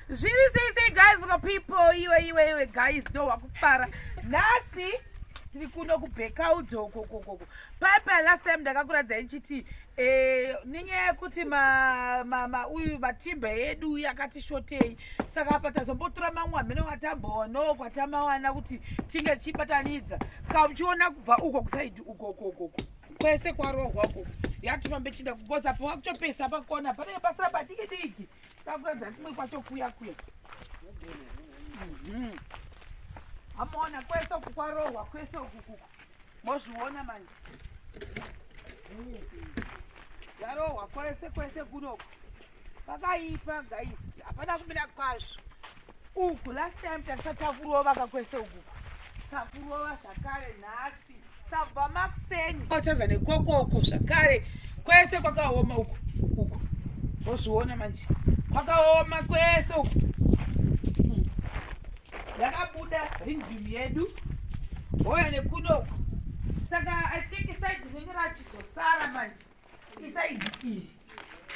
zviri sei sei guys vaka people iwe iwe iwe guys ndo wakufara nhasi tiri kuno kubhekaudo kokokoko paipa last time ndakakuratidza ichiti eh, nenyaya yekuti uyu matimba edu yakati shotei saka apa tazombotora mamwe amene watamboonoo kwatamawana kuti tinge tichibatanidza kauchiona kubva uko kusaidi ukokokoko kwese kwarohwa uku yatifambe chinda kugoza pa wakutopesa pakona panenge pasira padiki diki takuratidza kumwe kwacho kuya kuya mhm. amona kwese uku kwarohwa kwese ukuku mozviona manje yarohwa kwese kwese kunoku Pakaipa guys, hapana kumira kwazvo. Uku last time takasatakurwa vakakwese uku. Takurwa zvakare nhasi. Sabva makuseni. Ochaza nekokoko zvakare. Kwese kwakaoma uku. Uku. Wozviona manje. Kwakaoma kwese uku. Hmm. Yakabuda ring beam yedu. Hoya nekunoku. Saka I think side rinenge rachizosara manje. isaidi iri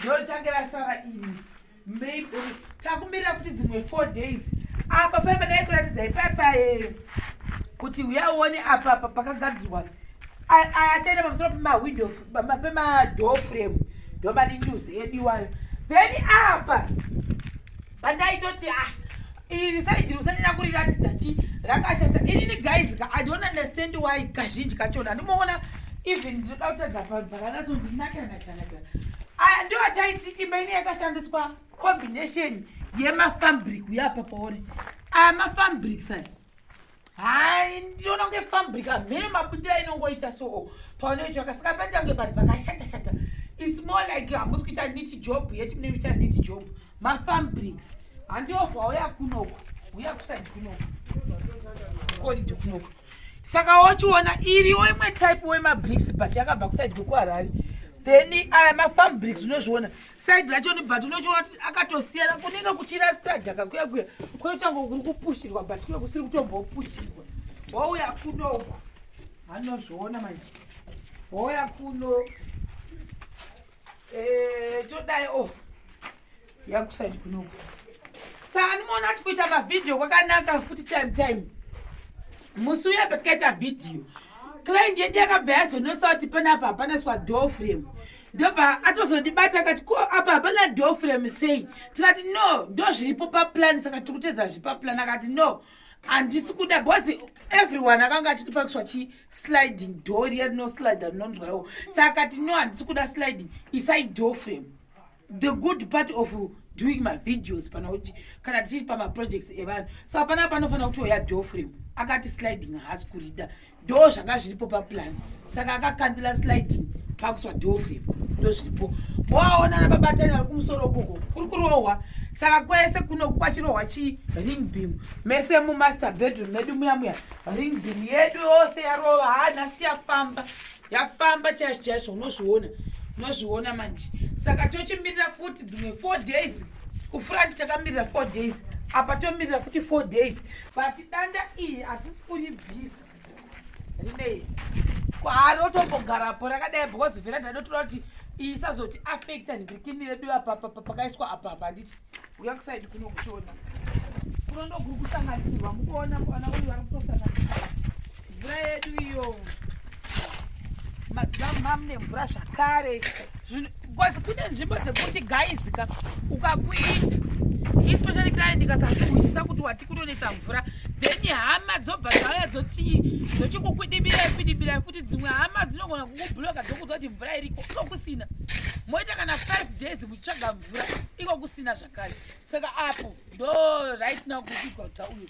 ndorichange rasara ini maybe takumirira kuti dzimwe four days apa paipa dai kuratidza ipaipa eh, kuti uya uone apa apa pakagadzirwa achaenda pamusoro pemawindow pemadoor frame ndomani news yediwayo then apa pandaitoti ah iri saidi usanyanya kuriratidza chi rakashata inini guys ka i don't understand why kazhinji kachona andimuona even ndinoda kutadza vanhu vakanatso ndinakira nakanaka aya ndiyo ataiti imba ine yakashandiswa combination yemafabric uyapa paone aya mafabric sai hai ndinoona kunge fabric amhene mabudira inongoita soo paunoitwa kasika paita kunge vanhu vakashatashata its more like hamusi kuita niti job yeti mune kuita niti job mafambrics handiovha uya kunoko uya kusaidi kunoko kodidi kunoko saka wochiona iriwo imwe type wemabrics but yakabva kusaidi kwekuharari then aya mafambrics unozviona side racho ni but unochiona kuti akatosiyana kunenge kuchira stradhaka kuya kuya kunoita ngo kuri kupushirwa but kuya kusiri kutombopushirwa wauya kuno anozviona manje wauya kuno eh, todai o oh. yakusaidi kunoku saka ndimoona ati kuita mavhidhiyo kwakanaka futi time time musi uya patikaita vhidhiyo client yedu yakabva yazonosa kuti panapa hapana swa door frame ndobva atozondibata akati ko apa hapana door frame sei tikati no ndozviripo paplan saka tiri kutedza zvipaplan akati no handisi kuda bcause everyone akanga achiti pakiswa chi sliding door riya rino slider rinonzwaiwo saka akati no handisi kuda sliding isai door frame the good part of doing mavideos pana kuti kana tichiri pamaprojects evanhu saka panaa panofanira kuti oya door frame akati sliding haasi kurida ndoo zvanga zviripo paplan saka akakandila sliding pakuswa door frame ndo zviripo moaona nababatani vari kumusoro kuko kuri kurohwa saka kwese kuno kwachirohwa chi ring beam mese mumaster bedroom medu muya muya ring beam yedu yose yarova ha nhasi yafamba yafamba chaizvo chaizvo unozviona unozviona manje saka tochimirira futi dzimwe four days kufront takamirira four days apa tomirira futi four days but danda iyi hatisi kuibvisa rinei kwarotombogarapo rakadai because vhera ndadotoda kuti isazoti affecta ndikini redu apapa pakaiswa apapa handiti uya kusaidi kuno kutona kuno ndokuri kusanganisirwa mukuona kuana uyu vari kutosanganisirwa mvura yedu iyo madhamu mamune mvura zvakare bcause kune nzvimbo dzekuti gaizika ukakuita especially client ikasazvihwisisa kuti wati kunonetsa mvura then hama dzobva dzauya dzotii dzochikukwidibira kwidibira futi dzimwe hama dzinogona kukubhuloka dzokuudza kuti mvura iriko iko kusina moita kana five days muchitsvaga mvura iko kusina zvakare saka apo ndo right now kukuigwa kuti uyo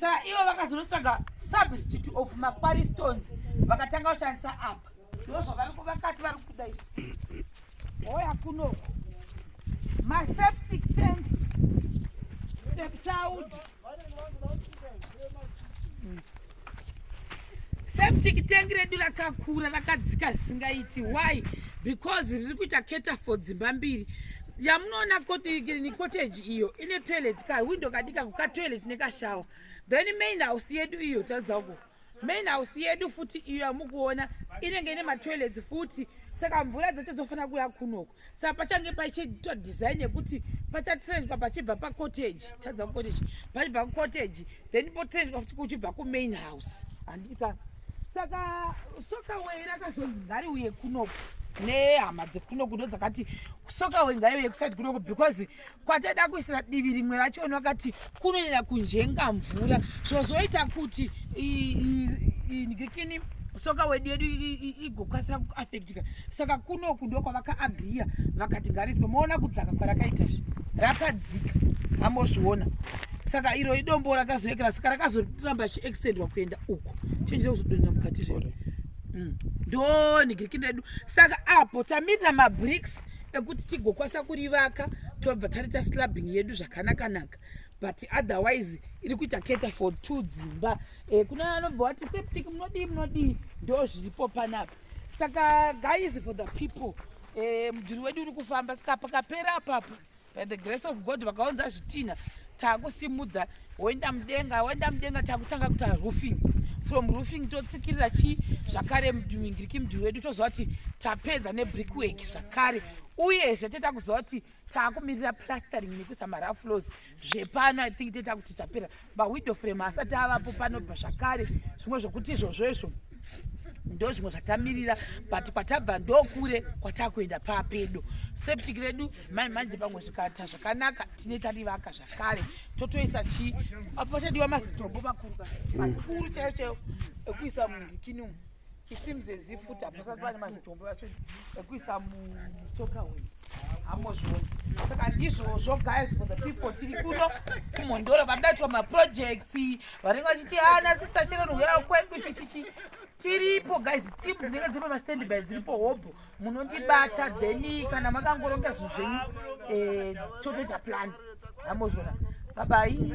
saa ivo vakazonotsvaga substitute of makwari stones vakatanga kushandisa apa ndo zvavarikuvakati vari kuda izvi hoya kunoko maseptic tank septaud septic tank redu rakakura rakadzika zvisingaiti why because riri kuita keta for dzimba mbiri yamunoona cottage iyo ine toilet ka window kadika kuka toilet nekashawa then main house yedu iyo taridza uko main house yedu futi iyo yamukuona inenge ine matoilets futi saka mvura dzacho dzofanira kuya kunoko sa pachange pachiitwa design yekuti pachatrendwa pachibva pacottage tadza kucottage pachibva kucottage then potrendwa futi kuchibva kumain house handiti ka saka sokaway rakazonzi ngariuye kunoku nehama dzekunoku ndo dzakati sokaway ngaiuye kusaidi kunoku because kwataida kuisira divi rimwe racho vanhu vakati kunonyanya kunjenga mvura zvozoita kuti ndikini soka wedu yedu igokasira kuaffectika saka kunoku ndokwavakaagriya vakati ngariswe moona kudzaka kwarakaita zve rakadzika ambozviona saka iro idombo rakazoekera saka rakazoramba chiextendwa kuenda uko chinjira kuzodonera mukati zve mm. ndonigiriki ndedu saka apo tamirira mabricks ekuti tigokwanisa kurivaka tobva taita slabbing yedu zvakanakanaka but otherwise iri kuita keta for two dzimba e, kune anobva wati septic munodii munodii ndo zviripo panapa saka guys for the people e, mudhuri wedu uri kufamba saka pakapera apapo by the grace of god vakaunza zvitinha takusimudza woenda mudenga woenda mudenga takutanga kuita roofing from roofing totsikirira chii zvakare mudhingiriki mudhiri wedu toziva kuti tapedza nebrickwork zvakare uyezve teta kuziva kuti taakumirira plastering nekuisa mara flows zvepano i think teta kuti tapera mawindow frame asati avapo panobva zvakare zvimwe zvokuti izvozvo izvo ndo zvimwe zvatamirira but kwatabva ndokure kwatakuenda papedo septic redu mai manje pamwe zvikata zvakanaka tine tarivaka kare totoisa chii apo pachadiwa mazitombo makuru mazikuru chaiyo chaiyo ekuisa mundikini umu isims as if futi hapasati pane mazitombo acho ekuisa musoka hwedu hamozviona saka ndizvozvo guys for the people tiri kuno kumhondoro vadaitwa maprojects vanenge vachiti ana ah, sista chero nouyao kwedu chichichi tiripo guys team dzinenge dziri pamastandby dziripo hobho munondibata then kana makangoronga zvinhu zvenyu eh, totoita plan hamozvona babai